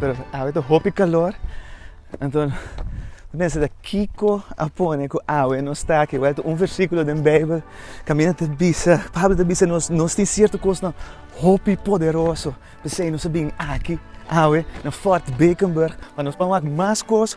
Pero awe ta hopi kalor, anto no ta pensa ta kiko a pone ku awe no sta aki. Wèl ta un versíkulo den Beibel kaminda ta bisa, Pablo ta bisa nos, nos tin sierto kosnan hopi poderoso, p'esei nos a bini aki awe na Fort Bakenburg pa nos pon wak mas kos,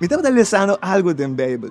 Mi tabata lesando algu den Beibel,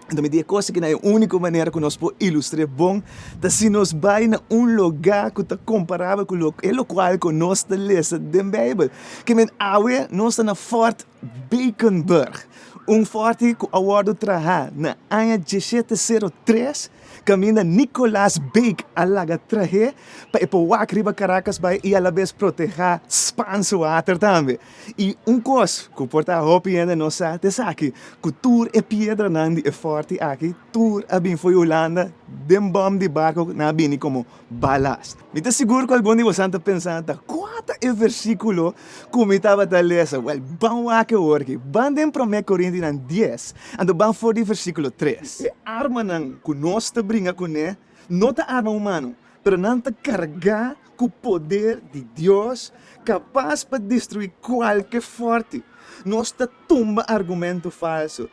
anto mi di e kos aki nan e úniko manera ku nos por ilustr'é bon ta si nos bai na un lugá ku ta komparabel ku e lokual ku nos ta lesa den Beibel. Kimen awe nos ta na Fort Bakenburg, un forti ku a wòrdu trahá na aña dieshete sero tres kaminda Nicolas Bake a laga trah'é pa e por wak riba Karakas bai i alabes protehá Spans water tambe. I un kos ku por ta hopi hende no sa ta esaki, ku tur e piedranan di e fòrti aki, tur a bin for di Hulanda den bòm di barko ku nan a bini komo balast. Mi ta sigur ku algun di bosan ta pensa ta, Kua ta e versíkulo ku mi tabata lesa? Wèl, ban wak awor aki. Ban den Promé Korintinan dies, anto ban for di versíkulo tres. E armanan ku nos ta bringa kuné no ta arma humano, pero nan ta kargá Ku poder di Dios kapas pa destruí kualke fòrte, nos ta tumba argumento falso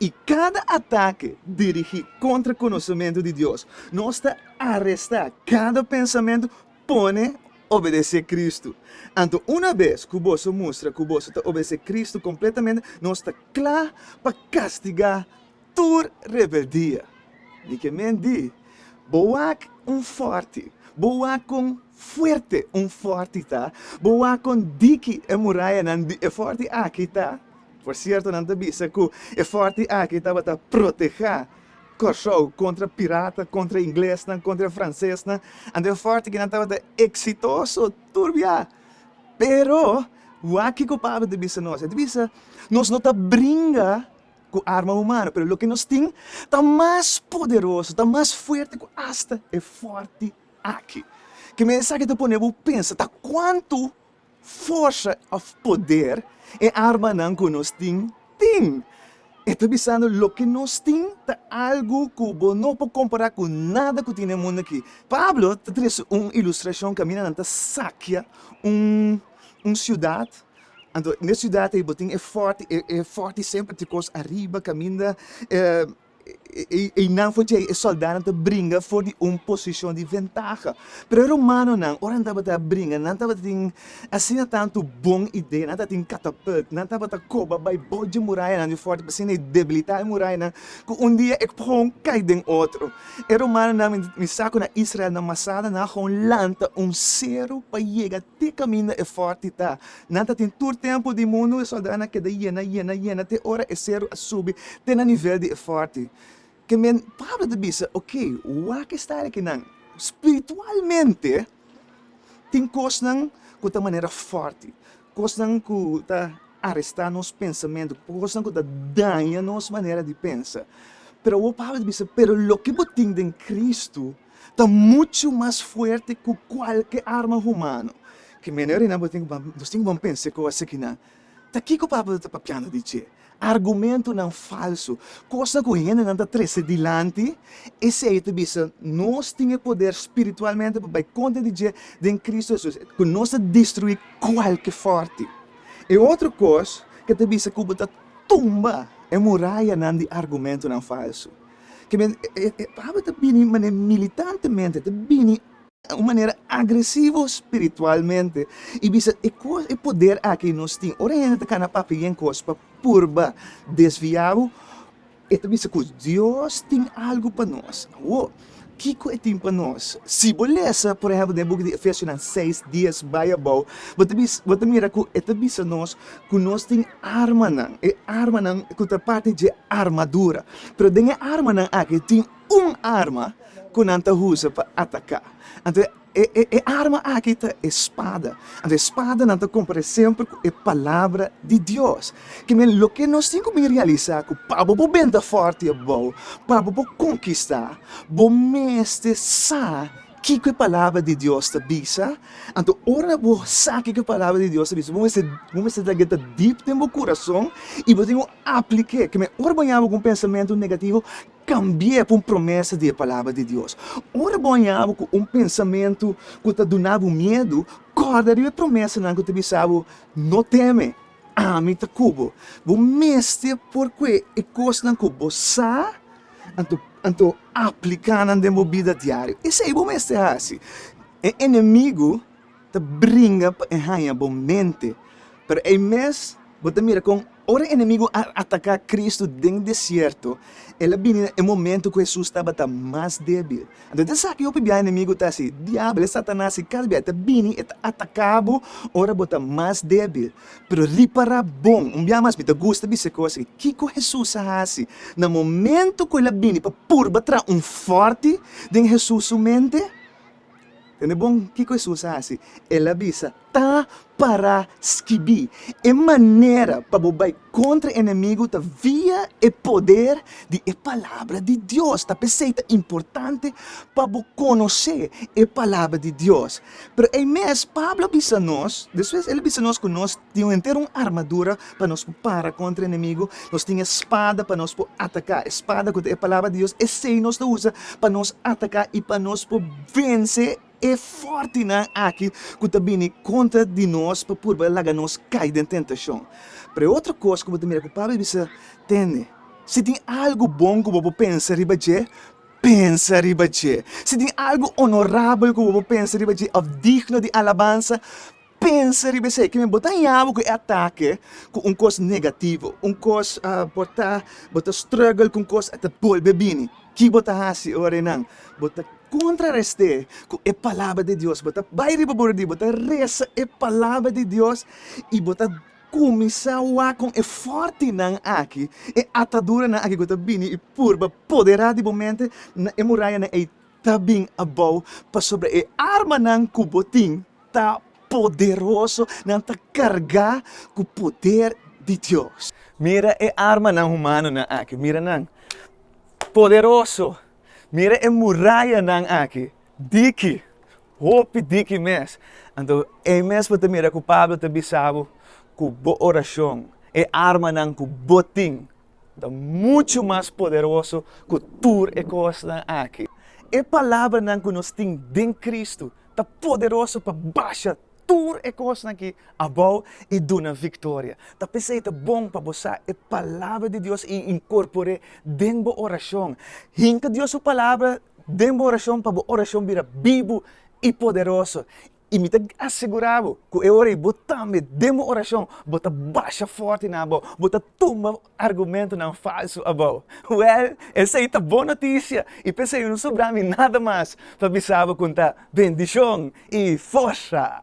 i kada atake dirigí kontra konosementu di Dios. Nos ta arestá kada pensamentu pone obedesé Kristu. Anto una bes ku boso mustra ku boso ta obedesé Kristu kompletamente, nos ta kla pa kastigá tur rebeldia di ke men di, Bo wak un fòrti, bo wak kon fuerte un fòrti ta, bo wak kon diki e murayanan di e fòrti aki ta! Por sierto, nan ta bisa ku e fòrti aki tabata protehá Kòrsou kontra pirata, kontra inglesnan, kontra fransesnan, anto e fòrti kinan tabata eksitoso tur biaha. Pero, wak kiko Pablo ta bisa nos, e ta bisa, Nos no ta bringa. ku arma humano, pero loke nos tin ta mas poderoso, ta mas fuerte ku asta e forte aki. Ke mensaki ta pone bo pensa ta kuantu forsa òf poder e armanan ku nos tin tin. E ta bisando, loke nos tin ta algu ku bo no por kompará ku nada ku tin den mundu aki. Pablo ta trese un ilustrashon kaminda nan ta sakia un siudat. Anto n'e siudat ei bo tin e fòrti, e fòrti semper tin kos ariba kaminda einan for djei e sòldánan ta bringa for di un posishon di ventaha. Pero e romanonan ora nan tabata bringa nan tabata tin asina tantu bon idea, nan tabatin katapult, nan tabata koba bai bou dje murayanan di fòrti pa asina e debilitá e murayanan ku un dia e pohon kai den otro. E romanonan mi sa ku na Israel nan masada nan a gou lanta un seru pa yega Tin caminda e forti ta. Nan ta tin tur tempo di mundu e soldadnan a keda yena yena yena te ora e cerro a subi te na nivel di e forti ke men Pablo ta bisa ok wak e stari ke nan spiritualmente tin cosnan cu ta manera forti cosnan cu ta aresta nos pensamentu cosnan cu ta daña nos manera di pensa pero awo Pablo ta bisa pero loke bo tin den Cristo ta muchu mas fuerte ku kualke arma humano. Ki mene Renan bo tin ku ban nos tin ku ban pensa e kos akinan? Ta kiko papia bo ta papiando di dje? Argumentunan falsu, kosnan ku hendenan ta trese dilanti, esei ta bisa nos tin e poder spiritualmente pa bai kontra di dje den Kristu Hesus, ku nos ta destruí kualke fòrti. E otro kos ke ta bisa ku bo ta tumba e murayanan di argumentunan falsu. ke men e pabia ta bini manera militantemente ta bini un manera agresivo spiritualmente y bisa e cos e poder aki nos tin ora hende ta cana papia yen cos pa purba desvia bo e ta bisa cos Dios tin algo pa nos awo Kiko e tin pa nos? Si bo lesa, por ehèmpel, den e buki di Efesionan seis, dies bai abou, bo ta bisa, bo ta mira ku e ta bisa nos ku nos tin armanan, e armanan ku ta parti dje armadura. Pero den e armanan aki tin un arma ku nan ta usa pa ataká. Anto, E arma aki ta e spada. Anto e spadanan ta kompare semper ku e palabra di Dios. Ke men, loke nos tin ku bin realisá ku pa bo por benta fòrti abou, pa bo por konkistá, bo mester sa kiko e palabra di Dios ta bisa. Anto ora bo sa kiko e palabra di Dios ta bisa, bo mester bo mester ta genta dip den bo kurason i bo tin ku aplik'é. Ke men, ora bo yabi ku un pensamentu negativo. Kambi'é pa un promesa di e Palabra di Dios. Ora bo hañabo ku un pensamentu ku ta duna bo miedu, kòrda riba e promesanan ku ta bisa bo, No teme, ami ta ku bo. Bo mester por kue e kosnan ku bo sa, anto anto apliká nan den bo bida diario. Esei bo mester hasi. E enemigu. ta bringa pa e haña bo mente. Pero ei mes bo ta mira kon ora e enemigu a ataká Kristu den desierto, el a bini na e momentu ku Hesus tabata mas débil. Anto, ta esaki hopi biaha e enemigu ta hasi. Diabel, e Satanas i kada biaha e ta bini, e ta ataká bo ora bo ta mas débil. Pero ripará bon, un biaha mas mi ta gusta bisa e kos ei, kiko Hesus a hasi na momentu ku el a bini pa purba traha un fòrti den Hesus su mente? Tende bon kiko Hesus a hasi. El a bisa, Ta pará skibí, E manera pa bo bai kontra e enemigu ta via e poder di e Palabra di Dios. Ta p'esei ta importante pa bo konosé e Palabra di Dios. Pero ei mes Pablo a bisa nos, despues el a bisa nos ku nos Tin henter un armadura pa nos ku para kontra e enemigu, nos tin e spada pa nos ku ataká. E spada ku ta e Palabra di Dios, esei nos ta usa pa nos ataká i pa nos ku vense e fòrtinan aki ku ta bini kontra di nos pa purba laga nos kai den tentashon. Pero e otro kos ku bo ta mira ku Pablo a bisa, Tende, si tin algu bon ku bo por pensa riba dje, pensa riba dje. Si tin algu onorabel ku bo por pensa riba dje òf digno di alabansa, Pensa riba esei, kimen bo ta hañabo ku e atake ku un kos negativo, un kos bo ta bo ta struggle ku un kos a ta bolbe bini. Ki bo ta hasi ora e nan? Bo ta kontrarest'é ku e Palabra di Dios, bo ta bai riba bo rodi, bo ta resa e Palabra di Dios i bo ta kuminsá wak kon e fòrtinan aki, e ataduranan aki ku ta bini i purba poderá di bo mente na e murayanan ei ta bin abou pasobra e armanan ku bo tin ta poderoso, nan ta kargá ku poder di Dios. Mira e armanan humanonan aki, mira nan, poderoso! Mira e murayanan aki, diki, hopi diki mes! Anto, ei mes bo ta mira ku Pablo ta bisa bo ku bo orashon, e armanan ku bo tin, Ta muchu mas poderoso ku tur e kosnan aki. E palabranan ku nos tin den Kristu ta poderoso pa basha tur e kosnan ki abou i duna viktoria. Ta p'esei ta bon pa bo sa e Palabra di Dios i inkorpor'é den bo orashon. Hinka Dios su Palabra den bo orashon pa bo orashon bira bibu i poderoso. I mi ta asegurá bo ku e ora ei bo tambe den bo orashon bo ta basha fòrti na abou, bo ta tumba argumentunan falsu abou. Wèl, esei ta bon notisia! I p'esei no sobrá mi nada mas pa bisa bo kon ta bendishon i forsa!